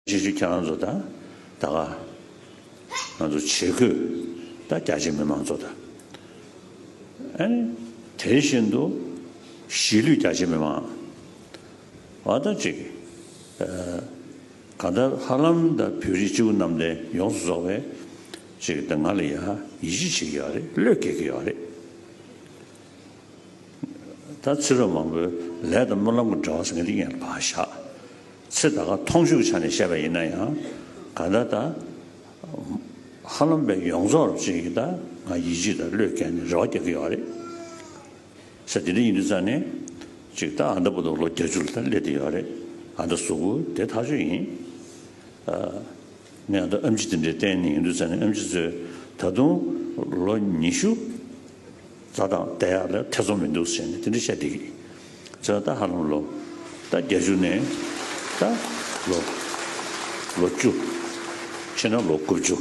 རྗེས་སུ་ཁྱེད་རང་ཚོ་དང་ད་ག་ང་ཚོ་ཆེད་བསྐོས་དང་རྒྱ་ཆེ་མི་མང་ཚོ་དང་ཨ་ནི་དེ་བཞིན་དུ་གཞིས་ལུས་རྒྱ་ཆེ་མི་མང་བ་དང་གཅིག་གང་ལྟར་ཧ་ལམ་དང་བོད་རིགས་སྤྱི་བོ་གནམ་བསྟན་ཡོངས་སུ་རྫོགས་པའི་གཅིག་དང་ང་ལ་ཡང་ཡིད་ཆེས་བྱེད་ཀྱི་ཡོད་རེད་བློས་འགེལ་གྱི་ཡོད་རེད། ད་ཚེ་རབས་མང་པོའི་ལས་དང་སྨོན་ལམ་གྱི་འབྲེལ་བ་ཟེར་མཁན་འདི་ཡིན་ལ་བག་ཞག་ཚེ་ད་གའ་མཐོང་ཤུགས་ཆགས་ནས་བཤད་པ་ཡིན་ན་ཡང་ག་ད་ད་ཧ་ལམ་པའི་ཡོངས་རྫོགས་རབ་བྱེད་ཀྱིས་ད་ང་ཡིད་གཅིག་དང་བློས་བཀལ་ནས་རེ་བ་རྒྱག་གི་ཡོད་རེད། ས་དེ་འདྲ་ཡིན་དུས་ཙང་ནས་ཅིག་ད་ཨ་མདའ་པོ་ཏོ་ལོ་བརྒྱ་བཅུ་ལ་ད་སླེབས་དེ་ཡོད་རེད་ཨ་མདའ་གཟུགས་པོ་དེ་ཐག་ཆོད་ཡིན། ངས་ཨ་མདའ་ཨམ་ཆི་དེ་འདྲའི་བསྟན་ནས་ཡོང་དུས་ཙང་ནས་ཨམ་ཆི་ཚོས་ད་དུང་ལོ་ཉི་ཤུ། བཟའ་དང་བསྡད་ཡག་ལ་ཐེ་ཚོམ་མི་འདུག་ཟེར་ནས་དེ་འདྲ་བཤད་འདི་གི་ཚོད་ལྟ་ཧ་ལམ་ལོ་ད་བརྒྱད་ཅུ་ནས་ད་ལོ་ལོ་བཅུ་ཕྱི་ན་ལོ་དགུ་བཅུ་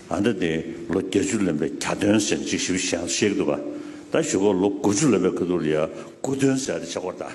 ཨ་མདའ་དེ་ལོ་བརྒྱད་ཅུ་ལོན་པའི་གྱ་སྟོན་ཟེར་ནས་ཅིག་ཞིབ་བཤད་ན་ཤེས་གི་འདུག་ག་ད་ཞུ་ཁོག་ལོ་དགུ་བཅུ་ལོན་པའི་ཁ་ཐུར་ལ་ཡ་དགུ་སྟོན་ཟེར་ཡ་དེ་ཆག་སྒོར་གདའ།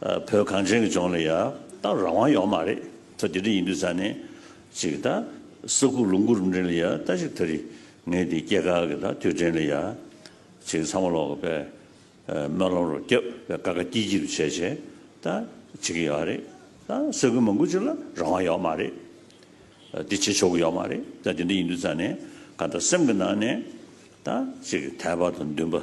བོད་གངས་ཅན་གྱི་ལྗོངས་ལ་ཡ་ད་རང་དབང་ཡོག་མ་རེད་ད་དེ་འདྲ་ཡིན་དུས་ས་ནས་ཅིག་ད་ས་ཁུག་ལུང་ཁུག་རིམ་དྲན་ལ་ཡ་ད་ཅིག་ད་རི་ངའི་དེ་སྐྱེ་ཁག་གི་ད་དུས་དྲན་ལ་ཡ་ཅིག་ཚང་མ་ལོག་གི་པའི་སྨོན་ལམ་རོ་སྐྱབས་པའི་དཀའ་དཀའ་སྐྱིད་སྐྱིད་དུ་བྱས་བྱས་ད་ཅིག་གི་ཡོག་རེད་ད་ས་ཁུལ་མང་པོ་ཅིག་ལ་རང་དབང་ཡོག་མ་རེད་འདི་བྱེད་ཆོག་གི་ཡོག་མ་རེད་ད་དེ་འདྲ་ཡིན་དུས་ས་ནས་ག་ད་སེམས་གི་ནང་ནས་ད་ཅིག་དལ་བར་དུ་འདུན་པ།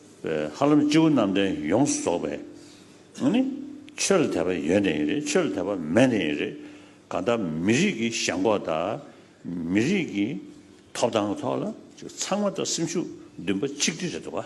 ཧ་ལམ་སྤྱི་བོ་རྣམས་ཏེ་ཡོངས་སུ་རྫོགས་པའི་ནི། ཆོས་ལ་དད་པ་ཡོད་ནི་རེད་ཆོས་ལ་དད་པ་མེད་ནི་རེད། གང་ལྟར་མི་རིགས་ཀྱི་ཞང་འགོག་དང་མི་རིགས་ཀྱི་ཐོབ་ཐང་གི་ཐོག་ལ་ཚང་མ་དང་སེམས་ཤུགས་འདུན་པ་ཆིག་སྒྲིལ་རེད་འདུག་བ།